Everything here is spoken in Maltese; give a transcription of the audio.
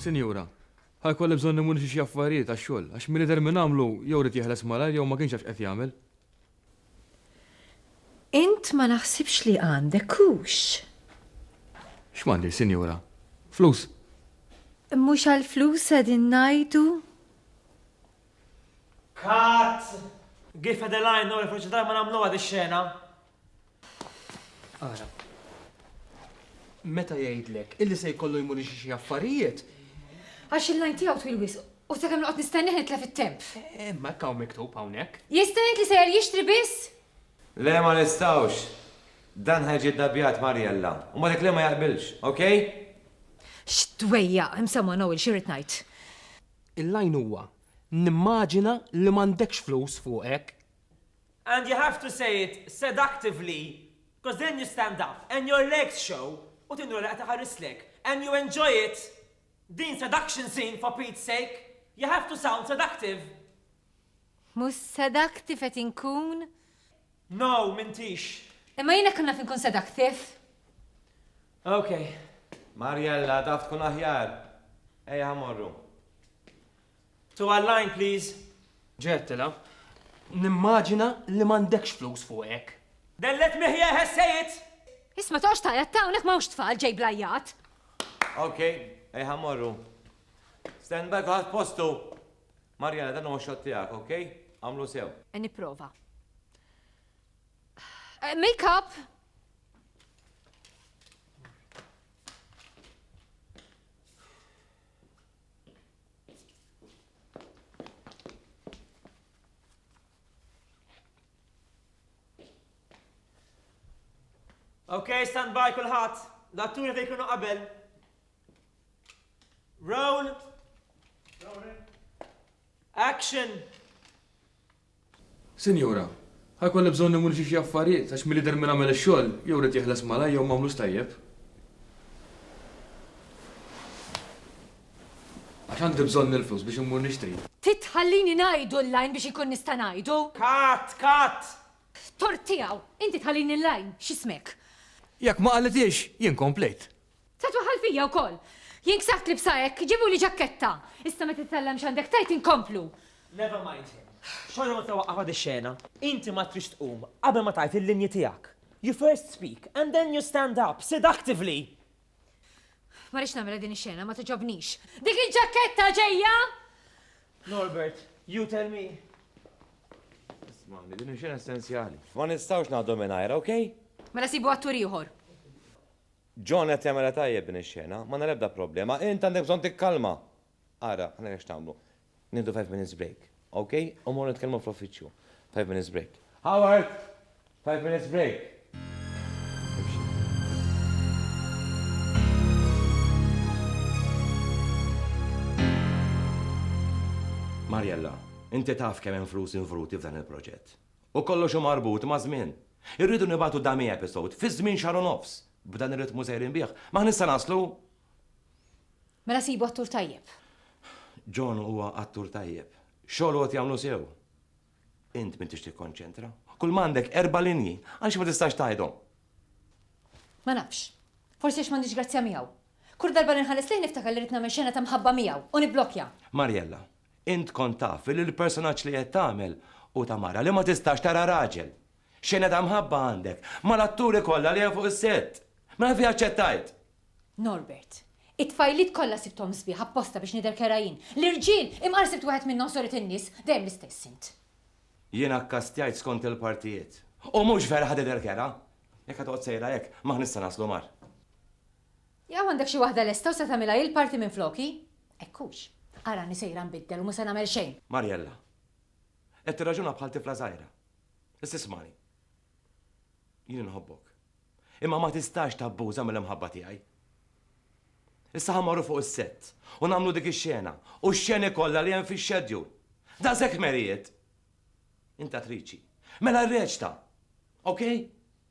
Sinjura, ħajkolli bżonn nimur xi affarijiet għax-xogħol, għax min idher minn għamlu jew rid jeħles malajr jew ma kienx jafx qed jagħmel. Int ma naħsibx li għandek hux. X'mandi, sinjura? Flus? Mhux għall-flus qegħdin ngħidu? Cut! Give her the line, no reference to time, ma nagħmluha di xena. Ara. Meta jgħidlek illi se jkollu jmur xi xi affarijiet. Għax il-lajn tiegħu twil wisq u sa kemm noqgħod nistennih nitlef it-temp. Eh, ma hekk hawn miktub hawnhekk. Jista' jgħid li sejjer jixtri biss? Le ma nistgħux. Dan ħajġi ddabjat Marjella. U ma dik li ma jaqbilx, okej? X'dwejja, hemm someone Noel xi rrid ngħid. Il-line huwa, Nimmaġina li m'għandekx flus fuqek. And you have to say it seductively coz then you stand up and your legs show u tinjora li qed iħarrislek and you enjoy it! Din seduction scene for Pete's sake! You have to sound seductive! Mhux seductive qed inkun? No, m'intix. Imma jiena kemm naf inkun seductive? Ok. Mariella, taf tkun aħjar. Ejja ħa morru. Two a line, please. Ġettila, nimmaġina li m'għandekx flus fuqek. Then let me hear her say it! Isma' toqgħodx tgħajjat ta' hawnhekk m'hawnx tfal ġej bl-għajjat. Ok, ejja ħa morru. Stand by kulħadd postu. Marjana dan huwa shot tiegħek ok? Għamlu sew. Qed nipprova. Make up! Ok, stand by kulħadd. L-atturi fejn kienu qabel. Roll. Action. Sinjura, ħajkolli bżonn imur xi xi affarijiet għax milli der minn għamel ix-xogħol jew rid jeħles malaj jew m'għamlux tajjeb. Għax għandi bżonn il-flus biex immur nixtri. Titħallini ngħidu l-lajn biex ikun nista' ngħidu? Kat, kat! Tort tiegħu, inti tħallini l-lajn, x'ismek? Jekk ma qalitiex, jien komplejt. Tatwa ħalfija wkoll! Jien ksabt libsa hekk, ġibuli ġakketta! Issa meta titgħallem x'għandek tgħid inkomplu. Never mind him. Xorta waħda waqqafha dix-xena. Inti ma tridx tqum qabel ma tgħid il-linji tiegħek. You first speak and then you stand up, seductively! Ma rridx nagħmilha din ix-xena, ma togħġobnix. Dik il-ġakketta ġejja! Norbert, you tell me. Ismagħni, din hi xena essenzjali. Ma nistgħux ngħaddu mingħajrha, okay? Mela sibu attur ieħor. John qed jagħmilha tajjeb din ix-xena, m'għandna l-ebda problema. Int għandek bżonn tikkalma! Ara, ngħidlek x'nagħmlu. Nieħdu five minutes break, ok? U mmorru nitkellmu fl-uffiċċju. Five minutes break. Howard! Five minutes break! Mariella, inti taf kemm hemm flus involuti f'dan il-proġett. U kollox hu marbut maż-żmien. Irridu nibagħtu dummy episode fi żmien xahar u nofs. B'dan ir-ritmu sejrin bih, ma ħniex se naslu! Mela sibu attur tajjeb. John huwa attur tajjeb. Xogħlu qed jagħmlu sew. Int m'intix tikkonċentra. Kulma għandek erba' linji, għaliex ma tistax tgħidhom? Ma nafx. Forsi għax m'għandix grazzja miegħu. Kull darba li nħares lejh niftakar li rrid nagħmel xena ta' mħabba miegħu u nibblokkja. Mariella, Int kont taf li l-personaġġ li qed tagħmel hu ta' mara li ma tistax tara raġel. X'għene ta' mħabba għandek mal-atturi kollha li hemm fuq is-sett? Mela fih aċċettajt! Norbert, It-tfajliet kollha sibthom sbieħ apposta biex nidher kerha jien. L-irġiel, imqar sibt wieħed minnhom soret in-nies. Dejjem l-istess int. Jiena kkastjajt skont il-partijiet. U mhux vera ħa tidher kerha! Jekk ħa toqgħod sejra hekk, m'aħna issa naslu mar. Jew għandek xi waħda lesta u se tagħmilha hi l-party minfloki? Hekk hux. Arani sejra nbiddel u mhu se nagħmel xejn. Mariella. Qed tirraġuna bħal tifla żgħira. Issa ismagħni. Jien inħobbok. Imma ma tistax tabbuża mill-imħabba tiegħi. Issa ħa marru fuq is-sett u nagħmlu dik ix-xena u x-xeni kollha li hemm fix-xedjul. Daqshekk merijiet! Int attriċi. Mela rreċta! Okej?